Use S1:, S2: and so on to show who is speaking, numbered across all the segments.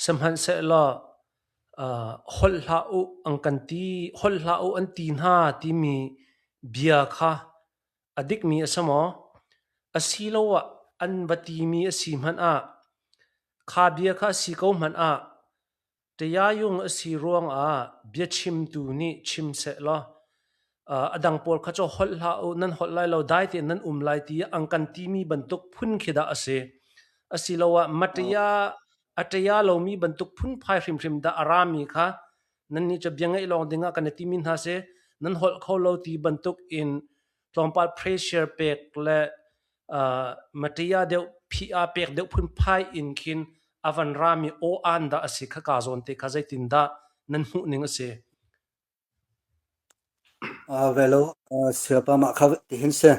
S1: Sihmanhsehlaw holh hlah u an kan ti, holh hlah u an ti hna timi bia kha a dikmi a si maw? Asiloah an va timi a si hmanh ah, kha bia kha a si ko hmanh ah, Tayayung a si ruangah biachimtu nih chim seh law, a dang pawl kha cu holh hlah u nan holh lai lo dai tein nan um lai ti an kan timi bantuk phun khi dah a si asiloah maṭia a ṭea lomi bantuk phunphai hrimhrim dah a rami kha nannih cu bia ngaih lawng dingah kan i timi hna seh nan holh kho lo ti bantuk in tlawmpal pressure pek le uh, maṭia deuh phia pek deuh phunphai in khin avan rami o an dah a si kha ka zawn te kha zeitin dah nan hmuh ning a si
S2: Velo sialpam ah kha tihin si.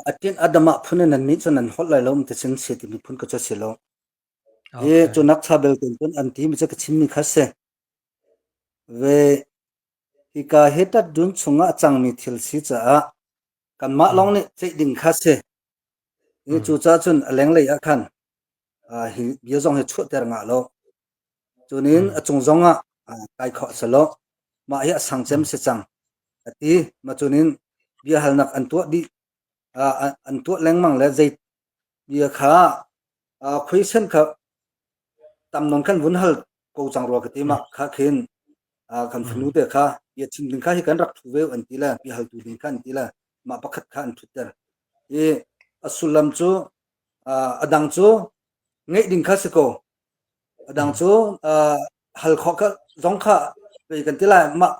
S1: A
S2: tin a dam ah phun in annih cu nan holh lai lo, ti cun si timi phun ka cu a si lo. Hi cu nakcha
S1: belte cun
S2: an ti mi cu ka chimmi kha si. Ve hika hi tat dun chung ah a cangmi thil si caah Kanmah lawng nih ceih ding kha si. Cucaah cun a lenglei ah khan hi bia zong hi chuahter nga law cunin a cung zong ah kai khawh a si lo. Mah hi a sang cem si cang a ti. Mah cunin biahalnak an tuah dih, an tuah lengmang le zei Bia kha khuaisen kha tamnon kan vun hal ko cang rua ka ti ma kha khin kan fanu te kha bia chim ding kha hi kan rak thu ve an ti le bia haltu ding kha an ti le mah pakhat kha an thut ter i a sullam cu a dang cu ngeih ding kha si ko a dang cu hal khawh kha zong kha pei kan ti lai mah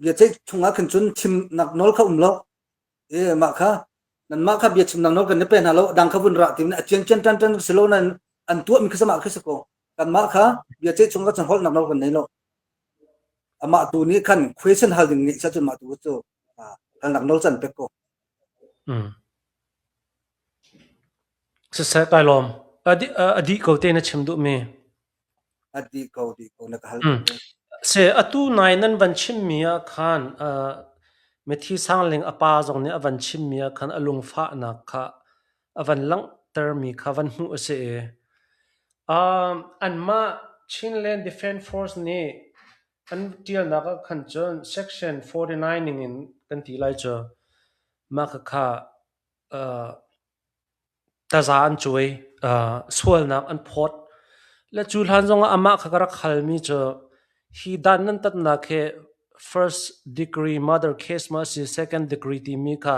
S2: bia ceih chungah khin cun chim nak nawl kha um lo e mah kha nan mah kha bia chim nang no kan ne pe hna lo dang kha vun ra tin a chian chian tan tan si lo nan an tuah mi kha sama khi ko kan mah kha bia che chung ka chan hol nak no kan nei lo amah tu ni khan question hal ding ni sa chun ma tu chu kan nak no chan pe ko
S1: sisai tai lom adi ko te na chim du mi a
S2: dih ko dih ko na ka hal Mm. Si,
S1: atu nai nan van chimmi ah khan uh, Mithi Sangling a pa zong nih a van chimmi ah khan a lungfahnak kha a van langhtermi kha van hmuh a si i um, anmah Chinland Defence Force nih an ṭialnak ah khan cun Section 49 ning in kan ti lai cu mah khakha uh, Taza an cuai, sualnak an phawt. Le cu hlan zongah amah kha ka rak halmi cu hi dan nan tatnak hi first degree murder case maw a si second degree timi kha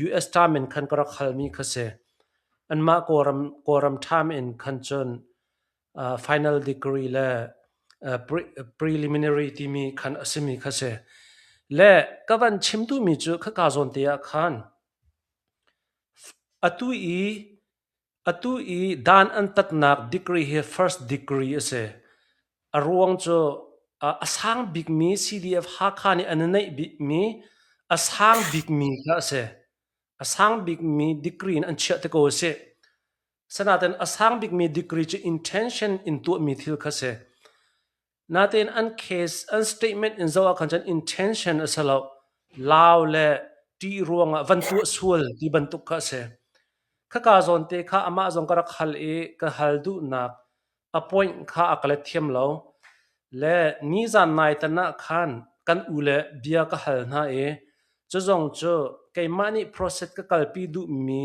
S1: US time in khan ka rak halmi kha si. Anmah Kawlram, Kawlram time in khan cun final degree le preliminary timi khan a simi kha si. Le ka van chim duhmi cu khaka zawnte ah khan Atu i dan an tatnak degree hi first degree a si. A ruang cu a sang bikmi CDF-Hakha nih an i naih bikmi a sang bikmi kha a si. A sang bikmi degree in an chiah ti ko a si. Asinain a sang bikmi degree cu intention in tuahmi thil kha a si. Natein an case an statement in zoh ah khan cun intention a si lo lau le ṭih ruang ah van tuah sual ti bantuk kha a si. Khaka zawn te kha amah zong ka rak hal i ka hal duhnak a point kha a ka let thiam lo. Le nizan nai tan ah khan kan u le bia ka hal hna i cu zong cu keimah nih process ka kalpi duhmi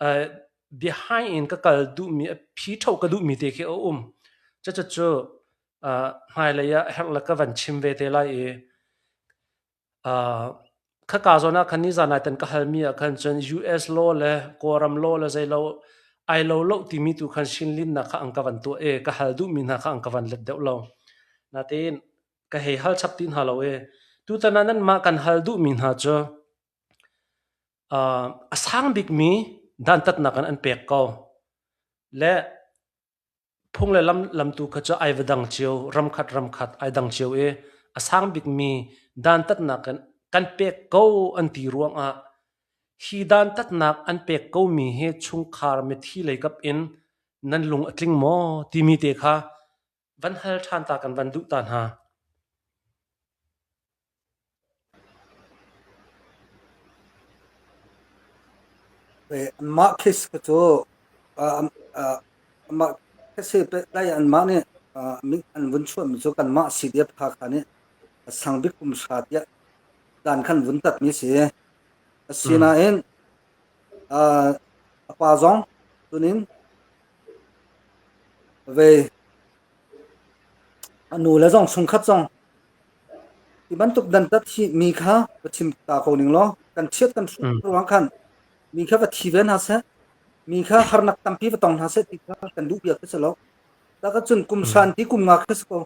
S1: uh, behind in ka kal duhmi phi tho ka duhmi te khi a um cucu cu uh, hmailei ah herh la ka van chim ve te lai i uh, kha ka zona khan ni zanai tan ka halmi ah khan cun US law le Kawlram law le zeilo ai lo lo timi tu khan shin lin na kha ang ka van tu e ka hal duhmi na kha ang ka van let deuh lo natin ka hei hal chap tin ha lo e tu tanan nan ma kan hal duhmi hna cu a sang bikmi dantatnak in an pek ko. Le phung le lam, lam tu kha cu ai va dang cio, ramkhat ramkhat ai dang cio i a sang bikmi dantatnak in kan pek ko an ti ruangah hi dantatnak an pek komi hi chungkhar mithi leikap in nan lung a tling maw timi te kha Van hal ṭhantak in van duh ta
S2: hna. Anmah khis kha cu amah khis si lai anmah nih an vun chuahmi cu kanmah CDF Hakha nih a sang bik kum hra tiah dan khan vun tatmi a si. Asinain A pa zong cunin vei a nu le zong chungkhat zong hi bantuk dantat hi mi kha va chim ta ko ning law kan chiat kan hruh ruang khan mi kha va thi ve hna seh mi kha harnak tampi va tong hna seh ti kha kan duh biak si lo taka cun kum shan ti kum nga kha si ko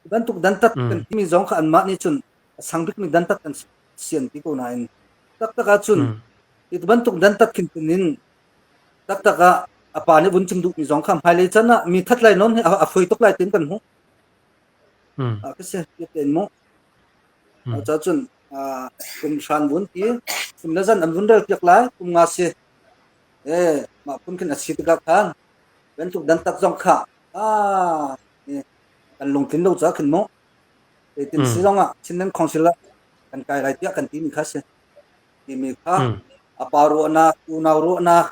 S2: hi bantuk dantat kan timi zong kha anmah nih cun sang bikmi dantat kan sian ti ko nain taktak ahcun Mm. hi bantuk dantat khintin in taktak ah a pa nih vun chim duhmi zong kha hmailei can ah mi that lai non hi a, a hruai tuk lai tin kan hmuh Mm. Ah, ka se ti ten mu Mm. ah, cha cun ah, kum shan bun ti kum la zan an vun rel piak lai kum nga se eh ma pun khin asi tuka khan bantuk dantat zong kha ah eh, kan lungtin lo cha khin mu Zeitin si zong ah Chinland Council ah kan kai lai tiah kan timi kha a si. Timi kha a pa ruahnak, unau ruahnak,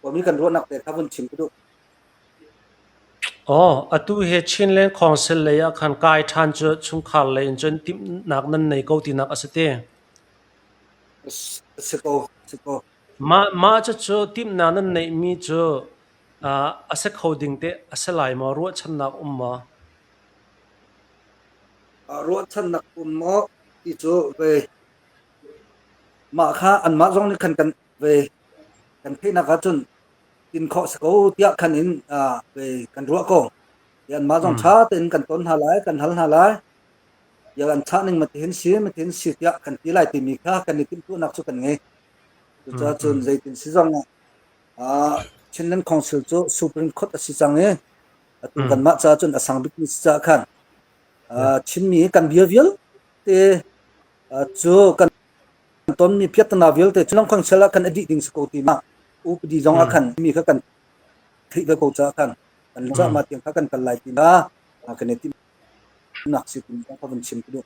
S2: kawmi kan ruahnak te kha vun chim ka duh. Aw,
S1: atu hi Chinland Council lei ah khan kai ṭhan cu chungkhar lei in cun timhnak nan nei ko tinak a si te.
S2: Si ko, si ko. Mah
S1: mah cucu timhnak nan neihmi cu a si kho ding te a si lai maw? Ruahchannak um maw?
S2: Ruahchannak um maw ti cu ve. Mah kha anmah zong nih khan kan ve kan theihnak ahcun in khawh a si ko tiah khan in aa ve kan ruah ko. Ti anmah zong ṭha tein kan tawn hna lai, kan hal hna lai. Bia an chah ning matihin si, matihin si tiah kan ti lai timi kha kan i timhtuahnak cu kan ngei. Cucaah cun zeitin si zong ah Chinland Council cu Supreme Court a si cang i atu kanmah caah cun a sang bikmi cucaah khan Chinmi kan bia vialte cu kan tonmi piattana vialte cu lamkhang chel ah khan a dih ding si ko ti ma upadi zong ah khan mi kha kan theih ve ko caah khan kan lecahma tiang kha kan kal lai ti na kan i timnak si ti ka van chim ka duh